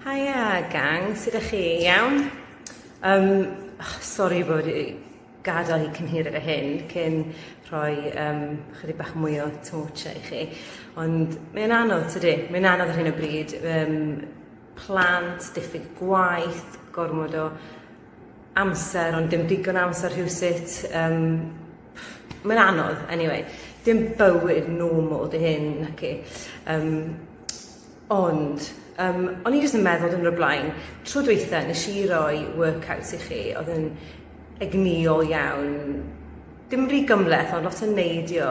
Haia gang, sut ydych chi? Iawn? Um, oh, sorry bod i gadael i cynhir efo hyn cyn rhoi um, chydig bach mwy o torch i chi. Ond mae'n anodd tydi, mae'n anodd ar hyn o bryd. Um, plant, diffyg gwaith, gormod o amser ond dim digon o amser rhywsut yym mae'n anodd anyway dim bywyd normal dy hyn naci yym ond yym o'n i jyst yn meddwl dwrnod o blaen tro dwetha nes i roi workouts i chi o'dd yn egnïol iawn Dim rhy gymhleth ond lot o neidio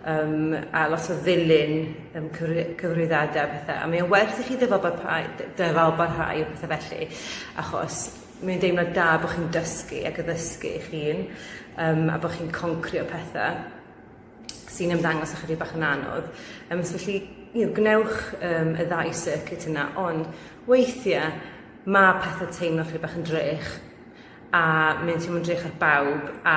yym a lot o ddilyn yym cyfri- cyfarwyddadau a pethe a mae o werth i chi ddyfalbarhau dy- dyfalbarhau a pethe felly achos mae'n deimlad da bo' chi'n dysgu ac addysgu eich hun yym a bo' chi'n concrio pethe sy'n ymddangos ychydig bach yn anodd yym so felly you know gwnewch yym y ddau circuit yna ond weithie ma' pethe teimlo chydig bach yn drech a mae'n teimlo'n drych ar bawb a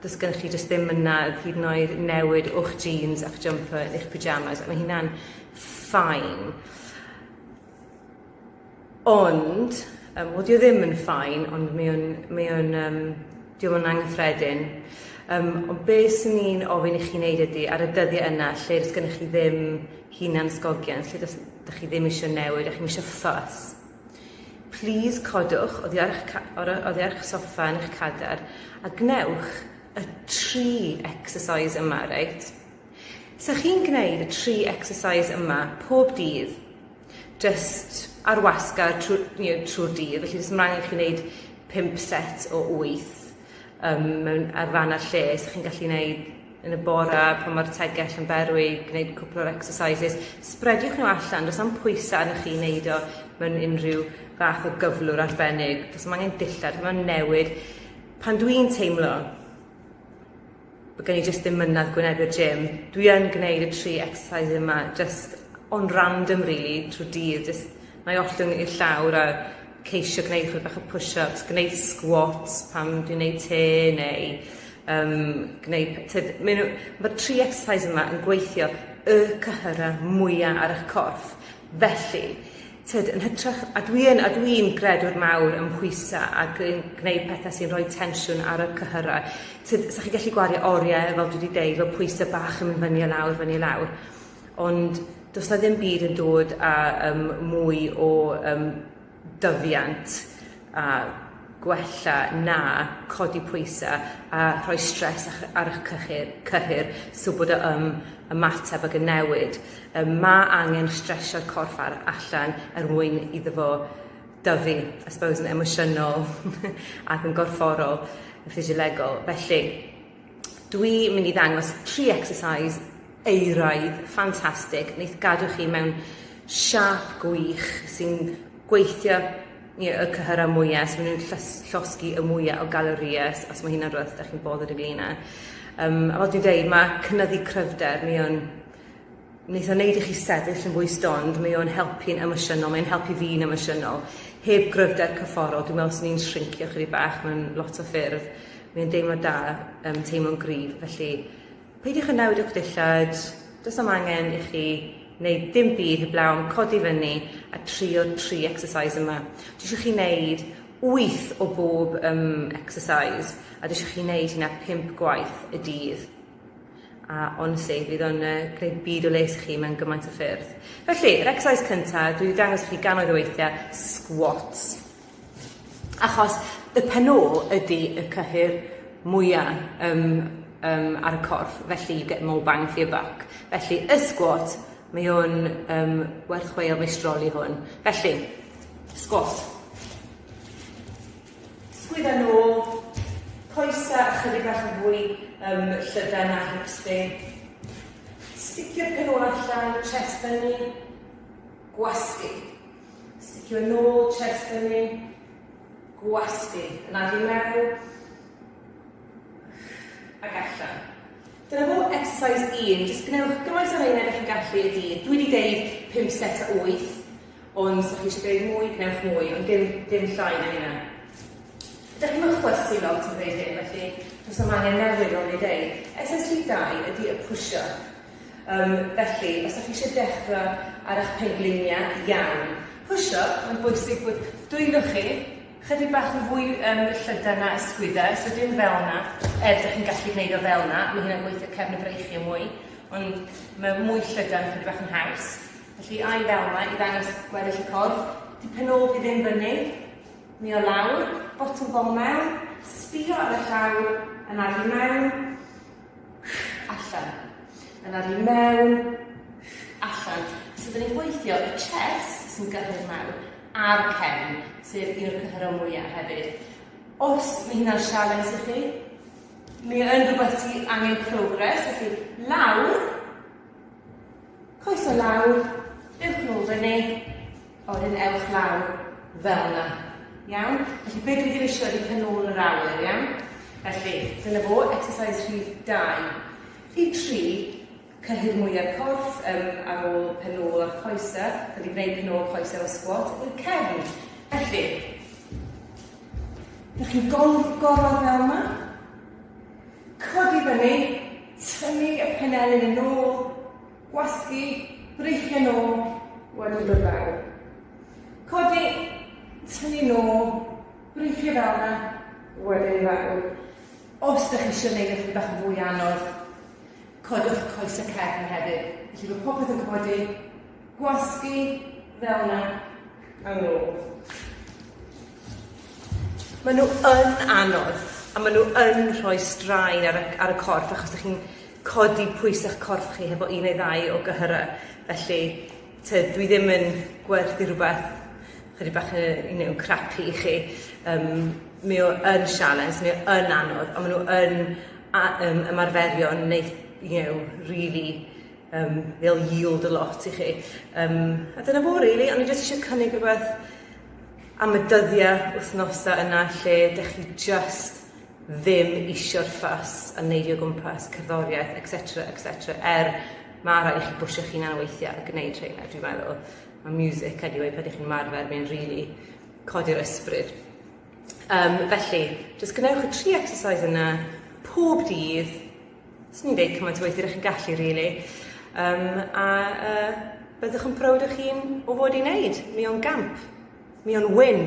does gennych chi jyst ddim yna oedd hyd yn oed newid o'ch jeans a'ch jumper yn eich pyjamas a mae hynna'n ffain. Ond, um, wedi o ddim yn ffain, ond mae o'n, mae o'n, um, diolch yn anghyffredin. Um, ond be sy'n ni'n ofyn i chi wneud ydy, ar y dyddiau yna, lle does gennych chi ddim hunan sgogian, lle does, chi ddim eisiau newid, a chi'n eisiau ffos, Plis codwch oddi ar eich ca- or- oddi ar eich soffa yn eich cadar a gwnewch y tri exercise yma, reit? Sa chi'n gwneud y tri exercise yma pob dydd, just ar wasgar trwy, you know, trwy'r dydd, felly jyst ymlaen i chi wneud pump set o wyth, um, mewn ar fan ar lle, so chi'n gallu gwneud yn y bore pan mae'r tegell yn berwi, gwneud cwpl o'r exercises. Sbrediwch nhw allan, does am pwysau arnoch chi wneud o mewn unrhyw fath o gyflwr arbennig. Does am angen dillad, mae'n newid. Pan dwi'n teimlo Bod gen i jyst ddim mynadd gwynebu'r gym. Dwi yn gwneud y tri exercise yma jyst on random rili trwy dydd jyst nai ollwng i'r llawr a ceisio gwneud chwe bach o push-ups, gwneud squats pan dwi'n neud te neu yym gwneud p- tyd ma' n'w ma'r tri exercise yma yn gweithio y cyhyra mwya ar 'ych corff felly Tyd, yn hytrach, a dwi yn, a dwi'n gredwr mawr ym mhwysa ac yn gwneud petha sy'n rhoi tensiwn ar y cyhyra. Tyd, sa chi'n gallu gwario orie, fel dwi 'di deud, fel pwysa bach yn mynd fyny a lawr, fyny a lawr. Ond does 'na ddim byd yn dod a yym mwy o yym dyfiant a gwella na codi pwysa a rhoi stres ar eich cyhyr, cyhyr so bod o ym ymateb ag yn newid. Um, mae angen stresio'r corff ar allan er mwyn iddo fo dyfu, I suppose, yn emosiynol ac yn gorfforol, yn ffisiolegol. Felly, dwi mynd i ddangos tri exercise eiraidd ffantastig wneith gadw chi mewn siap gwych sy'n gweithio Ie, y cyhyrau mwya', so maen nhw'n llys- llosgi y mwya' o galories, os ma' hynna'n rwbeth 'dach chi'n bothered ynglŷn â. Yym, a fel dwi'n deud, ma' cynyddu cryfder, mae o'n neith o neud i chi sefyll yn fwy stond, mae o'n helpu'n emosiynol, mae'n helpu fi'n emosiynol. Heb gryfder cyfforol, dwi'n meddwl 'swn i'n shrincio 'chydig bach mewn lot o ffyrdd. Mae o'n deimlad da, yym, teimlo'n gryf, felly Peidiwch â newid o'ch dillad, does na'm angen i chi wneud dim byd heblawn codi fyny a trio tri exercise yma. Dwi eisiau chi wneud wyth o bob um, exercise a dwi eisiau chi wneud hynna pump gwaith y dydd. A honestly, fydd o'n uh, gwneud byd o les i chi mewn gymaint o ffyrdd. Felly, yr exercise cyntaf, dwi wedi dangos i chi gannoedd o weithiau, squats. Achos y penôl ydi y cyhyr mwya yym yym ar y corff felly you get more bang for your buck felly y sgwat mae o'n yym werth chweil mae strol i hwn felly sgwat sgwydda nôl coesa ychydig bach yn fwy yym llydan a hips fi sticio'r penôl allan chest fyny gwasgu. Sticio nôl chest fyny. Gwasgu. Yn adi meddwl. Ac allan. Dyna fo exercise 1. Just gwnewch gymaint o reina ydych chi'n gallu y dydd. Dwi wedi deud 5 set a 8. Ond os chi eisiau gwneud mwy, gwnewch mwy. Ond dim, dim llai na hynna. Ydych chi'n chwesu lot yn gwneud hyn, felly does am angen newid o'n ei ddeud. Exercise 2 ydy y push-up. Yym, felly, os dach chi eisiau dechra ar eich pengliniau iawn, push up, mae'n bwysig bod dwylo chi chydig bach yn fwy um, llydan na ysgwydau, so dim fel yna, er dych chi'n gallu gwneud o fel yna, mae hynna'n gweithio cefn y breichiau mwy, ond mae mwy llydan chydig bach yn haws. Felly, ai fel yna, i ddangos gweddill y corff, di penol fi ddim fyny, mi o lawr, bottom bol mewn, sbio ar y llaw, yn arfi mewn, Allan. Yna fi mewn. Allan. So dyn ni'n gweithio y chest sy'n gyrru'r mewn a'r cefn, sef un o'r cyhyrau mwyaf hefyd. Os mae hynna'n sialens i chi, mi yn rhywbeth ti angen progres, felly lawr, coes o lawr, dewch nôl fyny, O hyn ewch lawr fel yna. Iawn? Felly be dwi ddim eisiau ydi pen ôl yr awyr, iawn? Felly, dyna fo, exercise rhif 2. Rhif 3, cyhyr mwya'r corff um, ar ôl pen ôl a'r coesau. Da di gwneud pen ôl coesau o sgwat i'r cefn. Felly, ydych chi'n gorfod fel yma? Codi fyny, tynnu y penelin yn ôl, Gwasgu breichiau nôl wedi bod yn dda. Codi, tynnu nôl, breichiau fel yna, wedyn i fawr. Os da chi eisiau gwneud eich bach yn fwy anodd, codwch coes y cefn hefyd. Felly bod popeth yn codi, gwasgu fel yna, a nôl. Maen nhw yn anodd, a maen nhw yn rhoi straen ar y, ar y corff achos da chi'n codi pwys a'ch corff chi hefo un neu ddau o gyhyra, felly tyd dwi ddim yn gwerthu rhywbeth chydig bach yy you know crappy i chi yym mi o yn sialens mi o yn anodd on' ma' n'w yn a- yym ymarferio neu you know rili yym they'll yield a lot i chi yym a dyna fo rili o'n i jyst isio cynnig rwbeth am y dyddia wythnosa yna lle dych chi jyst ddim isio'r ffys a neidio o gwmpas, cerddoriaeth etc etc er ma' raid i chi bwshio'ch hunan weithia' a gneud rheina dwi'n meddwl, ma' miwsic eniwe pan dych chi'n ymarfer mae'n rili codi'r ysbryd. Yym felly jyst gwnewch y tri exercise yna pob dydd, swn i'n deud cymaint o weithie dych chi'n gallu rili yym a yy byddwch yn proud o'ch hun o fod i neud, mi o'n gamp, mi o'n win.